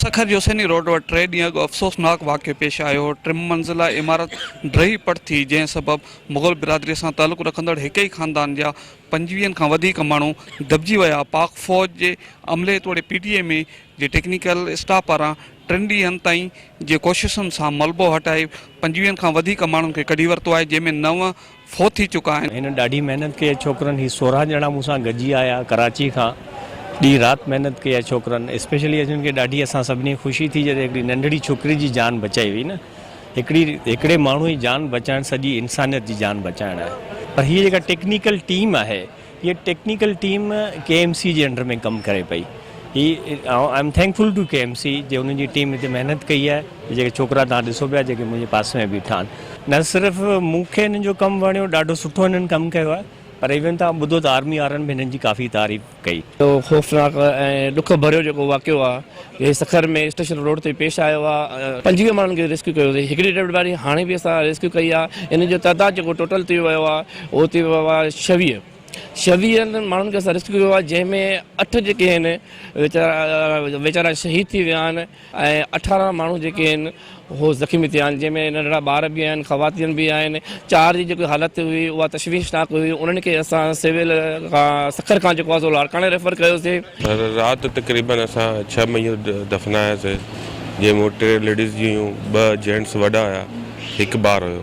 سکر جي حسيني روڊ وٽ ٽي ڏينهن اڳ افسوسناڪ واقعو پيش آيو هو، ٽي منزله عمارت ڊهي پٽ ٿي، جنهن سبب مغل برادري سان تعلق رکندڙ هڪ ئي خاندان جا پنجويهن کان وڌيڪ ماڻهو دٻجي ويا، پاڪ فوج جي عملي توڙي پي ٽي ايم اي جي ٽيڪنيڪل اسٽاف پاران ٽن ڏينهن تائين جي ڪوششن سان ملبو هٽائي پنجويهن کان وڌيڪ ماڻهن کي ڪڍي ورتو آهي، جنهن ۾ نو فوت ٿي چڪا آهن. هن ڏاڍي محنت ڪئي آهي ڇوڪرن هي سورهن ڄڻا مون سان گڏجي آيا ڪراچي کان ڏينهن رات محنت ڪئي آهي ڇوڪرن اسپيشلي اسين کي ڏاڍي اسان سڀني کي خوشي ٿي جڏهن هڪڙي ننڍڙي ڇوڪري جي جان بچائي وئي نه هڪڙي هڪڙي ماڻهو جي جان بچائڻ سڄي انسانيت جي جان بچائڻ آهي پر هي جيڪا ٽيڪنيڪل ٽيم آهي هيء technical team K M C جي انڊر ۾ ڪم ڪري پئي. هي I'm thankful to K M C جي انهن جي ٽيم هتي محنت ڪئي آهي. هي جيڪي ڇوڪرا توهان ڏسو پيا جيڪي منهنجي پاسي ۾ بيٺا آهن. نه صرف مون کي هنن جو ڪم وڻيو ڏاڍو سٺو هنن ڪم ڪيو آهي پر ايون توهان ٻڌو ته آرمي وارن به هنن جي ڪافي تعريف ڪئي. اهو خوفناڪ ۽ ڏک ڀريو جيڪو واقعو آهي اهي سکر ۾ اسٽيشن روڊ تي پيش آيو آهي. پنجويهه ماڻهن کي ريسڪيو ڪيو اٿئي. هڪڙي ڊيڊ باڊي هاڻي به اسان ريسڪيو ڪئي آهي. انهن جو تعداد جيڪو ٽوٽل ٿي ويو آهي. اهو ٿي ويو آهي ڇويهه ڇويهن ماڻهن کي اسان ريسڪيو ڪيو آهي جنهن ۾ اٺ جيڪي آهن ويچارا ويچارا شهيد ٿي ويا آهن ۽ اٺارهن ماڻهو جيڪي آهن هو زخمي ٿيا آهن جنهن ۾ ننڍڙا ٻار به آهن خواتين به آهن چار جي جيڪي حالت هئي اها تشويشناڪ هئي انهن کي اسان سول کان سکر کان جيڪو آهي سو لاڙڪاڻي ريفر ڪيوسي رات تقريبن اسان ڇهه ميو دفناياسي جنهن ۾ ٽي ليڊيز جي هيون ٻه جينٽس وڏا هيا هڪ ٻار هيو.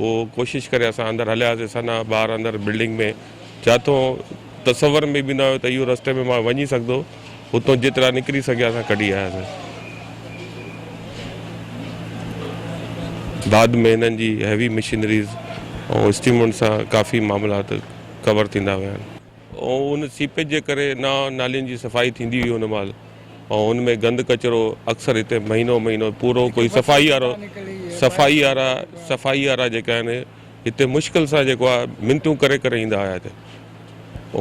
هو ڪوشش ڪري اسان اندر هلياسين ثنا ٻاهر اندر بلڊنگ ۾ جاتو تصور ۾ به نه آيو ته اهو رستي ۾ مان وڃي سگهندو اتو جيترا نڪري سگهيا سان ڪڍي آياسين بعد ۾ هنن جي هيوي مشينريز ۽ اسٽيمنٽ سان ڪافي معاملات ڪور ٿيندا ويا ۽ ان سيپيج جي ڪري نا نالين جي صفائي ٿيندي هئي ان مهل ۽ ان ۾ گند ڪچرو اڪثر هتي مهينو مهينو پورو ڪوئي صفائي وارو صفائي وارا صفائي وارا جيڪا آهن هتي مشڪل سان جيڪو آهي منتون ڪري ڪري ايندا هيا هتي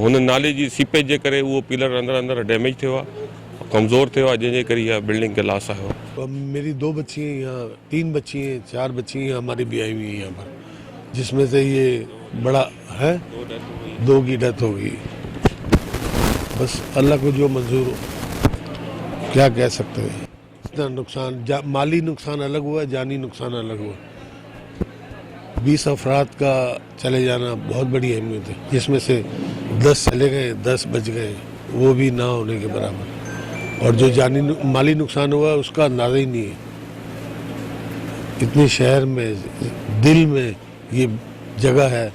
هن نالي جي سيپيج جي ڪري اهو پيلر اندر اندر ڊيميج ٿيو آهي ڪمزور ٿيو آهي جنهن جي ڪري اها بلڊنگ کي لاس آهيو ميري دو بچي هين يهان تين بچي هين چار بچي هين هماري بياهي هئي هين يهان پر جس مين سي يه بڙا هه دو گي ڊيٿ هو گي بس الله ڪو جو منظور هو ڪيا ڪه سڪته هي. اتنا نقصان جا مالي نقصان الگ هوا جاني نقصان الگ هوا بيس افراد کا چلي جانا بهت بڙي اهميت هي جس مي سي دس چلي گئي دس بچ گئي وو بي نا هوني ڪي برابر اور جو جاني مالي نقصان هوا اسڪا اندازا هي نهي هي اتني شهر مي دل مي يي جگه هي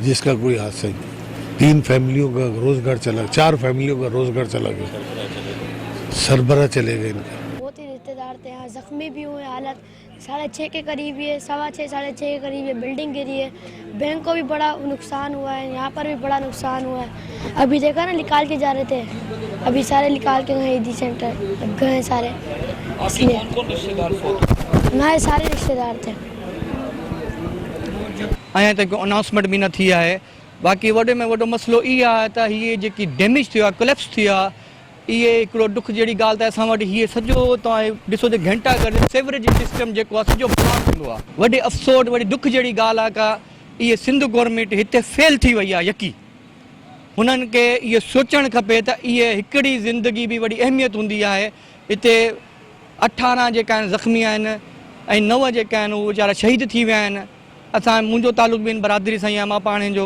جس ڪا ڪوئي هاٿ سهي نهي تين فيمليون ڪا روزگار چلا چار فيمليون ڪا روزگار چلا گيا سربراھ چلي گئي ان ڪا بهت هي رشته دار تي ها زخمي بهي هئي حالت ساڙهي ڇهه ڪي قريب هي سوا ڇهه ساڙهي ڇهه ڪي قريب هي بلڊنگ گري هي بينڪ ڪو بهي بڙا نقصان هوا هي يهان پر بهي بڙا نقصان هوا هي ابهي ديکا نه لکال ڪي جا رهي تي ابهي ساري لکال ڪي هي دي سينٽر گهه ساري اسلي هماري ساري رشته دار تي اڃا تائين ڪو انائونسمينٽ به نه ٿي آهي باقي وڏي ۾ وڏو مسئلو اهي آهي ته هي جيڪي ڊيميج ٿيو آهي ڪليپس ٿيو آهي اهي هڪڙو ڏک جهڙي ڳالهه ته اسان وٽ هي سڄو توهان ڏسو ته گهنٽا گهر سيوريج سسٽم جيڪو آهي سڄو بلاڪ هوندو آهي وڏي افسوٽ وڏي ڏک جهڙي ڳالهه آهي ڪا اهي سنڌ گورنمينٽ هتي فيل ٿي وئي آهي يقي هنن کي اهو سوچڻ کپي ته اهي هڪڙي زندگي به وڏي اهميت هوندي آهي اتي اٺارهن جيڪا آهن زخمي آهن ۽ نو جيڪا آهن اهي ويچارا شهيد ٿي ويا آهن اسان منهنجو تعلق به ان برادري سان ئي آهي مان پاڻ هن جو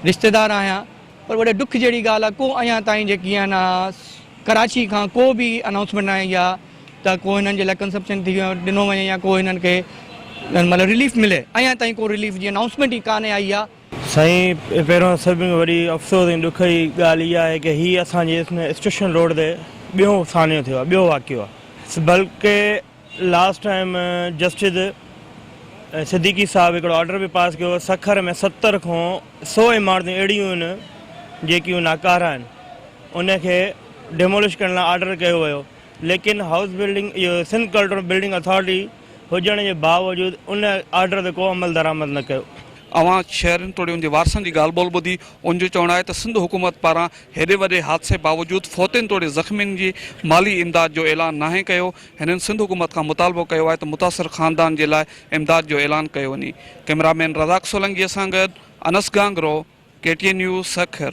رشتيدار آهيان پر وڏي ڏک جهڙي ڳالهه آهي ڪو اڃا تائين جيڪي آهن ڪراچي کان ڪو به انائونسمينٽ نه آئي آهي ته ڪو هنن جي لاء ڪنسپشن ٿي ڏنو وڃي يا ڪو هنن کي مطلب رليف ملي اڃا تائين ڪو رليف جي انائونسمينٽ ئي ڪانه آئي آهي سائين پهريون سڀ کان وڏي افسوس ۽ ڏک جي ڳالهه اها آهي ڪه هي اسان جي اسٽيشن روڊ تي ٻيو سانحو ٿيو آهي ٻيو واقعو آهي بلڪه لاسٽ ٽائيم جسٽس صديقي صاحب هڪڙو آرڊر به پاس ڪيو هو سکر ۾ ستر کان سو عمارتون اهڙيون آهن جيڪيون ناڪارا آهن ان کي ڊيمولش ڪرڻ لاء آرڊر ڪيو ويو ليڪن هائوس بلڊنگ اهو سنڌ ڪلٽرل بلڊنگ اٿارٽي هجڻ جي باوجود ان آرڊر تي ڪو عمل درآمد نه ڪيو اوهان شهرين توڙي ان جي وارثن جي ڳالهه ٻولهه ٻڌي، ان جو چوڻ آهي ته سنڌ حڪومت پاران هيڏي وڏي حادثي باوجود فوتين توڙي زخمين جي مالي امداد جو اعلان ناهي ڪيو، هنن سنڌ حڪومت کان مطالبو ڪيو آهي ته متاثر خاندان جي لاء امداد جو اعلان ڪيو وڃي. ڪئميرا مين رزاق سولنگيء سان گڏ Anas Gangro, K T N news Sukkur.